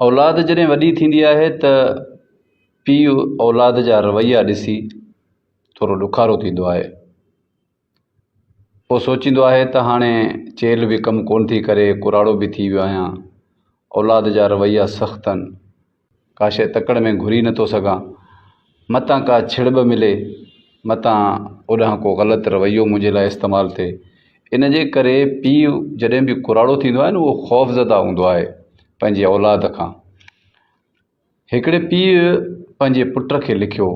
اولاد جڏهن وڏي ٿيندي آهي ته پيء اولاد جا رويا ڏسي ٿورو ڏکارو ٿيندو آهي پوء سوچيندو آهي ته هاڻي چيلهه به ڪم ڪونه ٿي ڪري ڪراڙو به ٿي ويو آهيان اولاد جا رويا سخت آهن ڪاشي تڪڙ ۾ گهري نٿو سگهان متان ڪا ڇڙٻ ملي، متان اوڏانهن ڪو غلط رويو منهنجي لاء استعمال ٿئي. ان جي ڪري پيء جڏهن به ڪراڙو ٿيندو آهي نه اهو خوفزده هوندو آهي پنهنجي اولاد کان. هڪڙي پيء پنهنجي پٽ کي لکيو،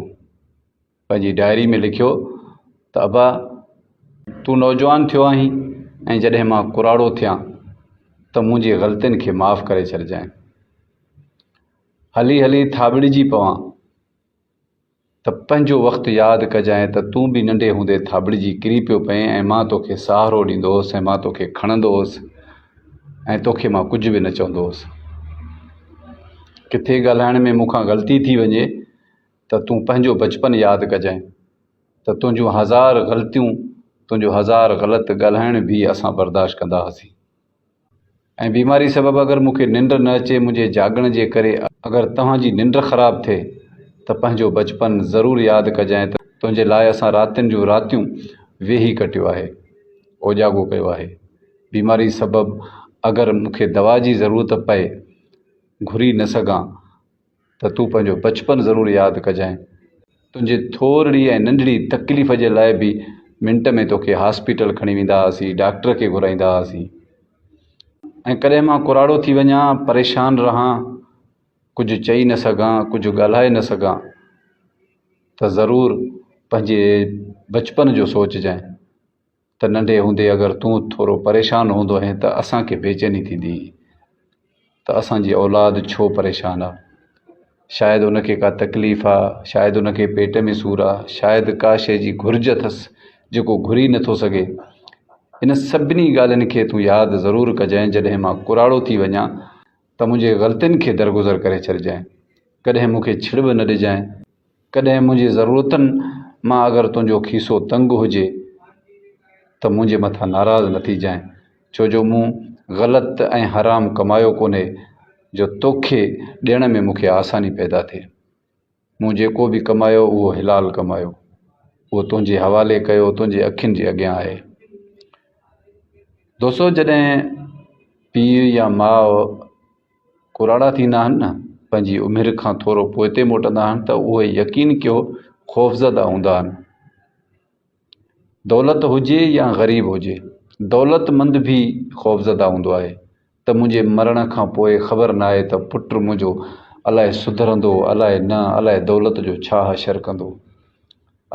پنهنجي ڊائري ۾ لکيو ته ابا تون نوجوان ٿيو آهين ۽ جڏهن مان ڪراڙو ٿيان ته منهنجي غلطين کي معاف ڪري ڇڏجانء. هلي هلي ٿاٻڙجي پوان ته پنهنجو وقت ياد ڪجانء ته تون به ننڍي هوندي ٿاٻڙجي ڪري پيو پئين ۽ مان توکي سهارو ڏيندو هوس ۽ مان توکي کڻندو هوس ۽ توکي مان ڪجهه به نه چوندو هوس. ڪٿي ڳالهائڻ ۾ مون کان غلطي ٿي وڃي ته تون پنهنجو بچپن ياد ڪجانء ته تنهنجون هزار غلطيون، تنهنجو هزار غلط ڳالهائڻ به اسان برداشت ڪندا هئاسين. ۽ بيماري سبب اگر مون کي ننڊ نه اچي منهنجي جاڳڻ جي ڪري اگر توهان جي ننڊ خراب ٿئي ته پنهنجو بچپن ضرور ياد ڪجانء ته تنهنجي لاء اسان راتين جون راتيون ويهي ڪٽيو آهي اوجاڳو ڪيو آهي بيماري سبب اگر مون کي دوا جي ضرورت پئي گهري نه سگهان ته تون پنهنجو بچپن ضرور ياد ڪجانء. تنهنجي ٿورڙي ۽ ننڍڙي تڪليف جي لاء به منٽ ۾ توکي هاسپيٽل کڻي ويندا هئاسين، ڊاڪٽر کي گهرائيندا هئاسين ۽ ڪڏهن مان ڪراڙو ٿي وڃان، پريشان رهان، ڪجهه چئي نه سگهان، ڪجهه ڳالهائي نه سگهان ته ضرور پنهنجي بچپن جو سوچجانء ته ننڍي هوندي اگر تون ٿورو پريشان هوندو هين ته اسان کي بيچيني ٿيندي هئي ته اسان جي اولاد ڇو پريشان آ شايد ان کي ڪا تڪليف آ شايد ان کي پيٽ ۾ سور آ شايد ڪا شي جي گهرج اٿس جيڪو گهري نٿو سگهي ان سڀني ڳالهين کي تون ياد ضرور ڪجانء جڏهن مان ڪراڙو ٿي وڃان ته منهنجي غلطين کي درگذر ڪري ڇڏجانء، ڪڏهن مون کي ڇڙ به نه ڏجانء، ڪڏهن منهنجي ضرورتن مان اگر تنهنجو کيسو تنگ هجي ته منهنجي مٿان ناراض نه ٿيجانء، ڇو جو مون غلط ۽ حرام ڪمايو ڪونهي جو توکي ڏيڻ ۾ مون کي آساني پيدا ٿئي. مون جيڪو به ڪمايو اهو حلال ڪمايو اهو تنهنجي حوالي ڪيو تنهنجي اکين جي اڳيان آهي دوستو جڏهن پيء يا ماء ڪراڙا ٿيندا آهن نه پنهنجي عمر کان ٿورو پوئتي موٽندا آهن ته اهي يقين ڪيو خوفزده هوندا آهن دولت هجي يا غريب هجي، دولت مند به خوفزده هوندو آهي ته منهنجي مرڻ کان پوء خبر ناهي ته پٽ منهنجو الاء سڌرندو الاء نه، الاء دولت جو ڇا حشر ڪندو،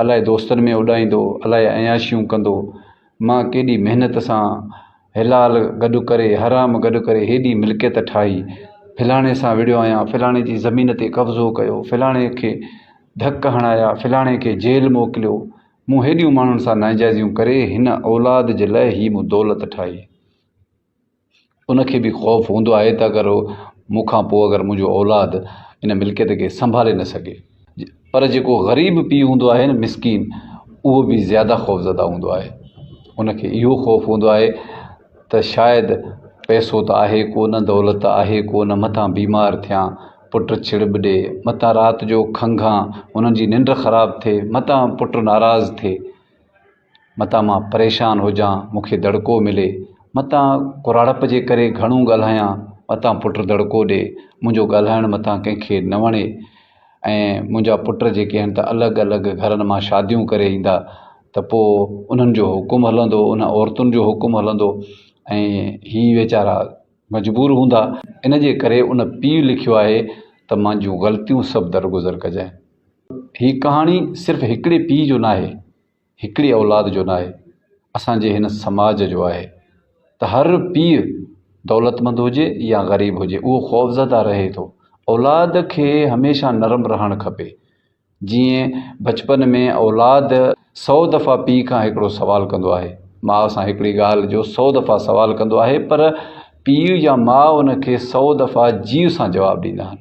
الاء دوستن ۾ اڏائيندو، الاء عياشيون ڪندو، مان ڪيڏي محنت سان حلال گڏ ڪري حرام گڏ ڪري هيڏي ملڪيت ٺاهي فلاڻي سان وڙهيو آهيان فلاڻي جي زمين تي قبضو ڪيو فلاڻي کي ڌڪ هڻايا فلاڻي کي جيل موڪليو مون هيڏيون ماڻهن سان ناجائزيون ڪري هن اولاد جي لاء هي مون دولت ٺاهي ان کي به خوف هوندو آهي ته اگر مون کان پوء اگر منهنجو اولاد ان ملڪيت کي سنڀالي نه سگهي پر جيڪو غريب پيء هوندو آهي نه مسڪين اهو به زياده خوفزده هوندو آهي ان کي اهو خوف هوندو آهي ته شايد پئسو ته آهي ڪونه دولت ته آهي ڪونه متان بيمار ٿيان پٽ ڇڙ ٻه ڏي متان رات جو کنگهان انهن جي ننڊ خراب ٿئي متان پٽ ناراض ٿئي متان مان پريشان هجان، مون کي دڙڪو ملي، متان ڪراڙپ جي ڪري گهڻو ڳالهايان، متان پٽ دڙڪو ڏئي، منهنجو ڳالهائڻ متان ڪنهن کي نه وڻي ۽ منهنجا پٽ جيڪي آهن ته الڳ الڳ گهرن مان شاديون ڪري ايندا ته پوء انهن جو حڪم هلندو، انهن عورتن جو حڪم هلندو ۽ هي ويچارا مجبور هوندا. ان جي ڪري ان پيء لکيو آهي ته منهنجون غلطيون سڀ درگذر ڪجانء. هي ڪهاڻي صرف هڪڙي پيء جو ناهي. هڪڙي اولاد جو ناهي اسان جي هن سماج جو آهي ته هر پيء دولتمند هجي يا غريب هجي اهو خوفزده رهي ٿو اولاد کي هميشه نرم رهڻ کپي جيئن بچپن ۾ اولاد سئو دفعا پيء کان هڪڙو سوال ڪندو آهي ماء سان هڪڙي ڳالهه جو سئو دفعا سوال ڪندو آهي پر پيء يا ماء ان کي سئو دفعا جيء سان جواب ڏيندا آهن.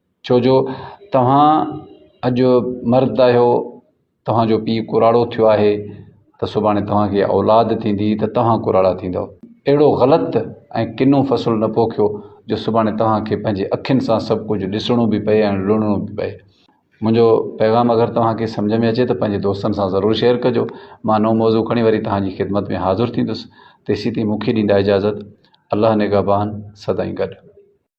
ڇو جو توهان اڄ مرد آهيو توهان جو پيء ڪراڙو ٿيو آهي ته سڀاڻي توهان کي اولاد ٿيندي ته توهان ڪراڙا ٿيندؤ اهڙو غلط ۽ ڪنو فصل نه پوکيو جو سڀاڻي توهان کي پنهنجي اکين سان سڀ ڪجهه ڏسڻو به پئي ۽ لڻڻو به پئي منهنجو پيغام اگر توهان کي سمجهه ۾ اچي ته پنهنجي دوستن سان ضرور شيئر ڪجو مان نئون موضوع کڻي وري توهان جي خدمت ۾ حاضر ٿيندس تيسين تائين مون کي ڏيندا اجازت الله نگهبان سدائين گڏ.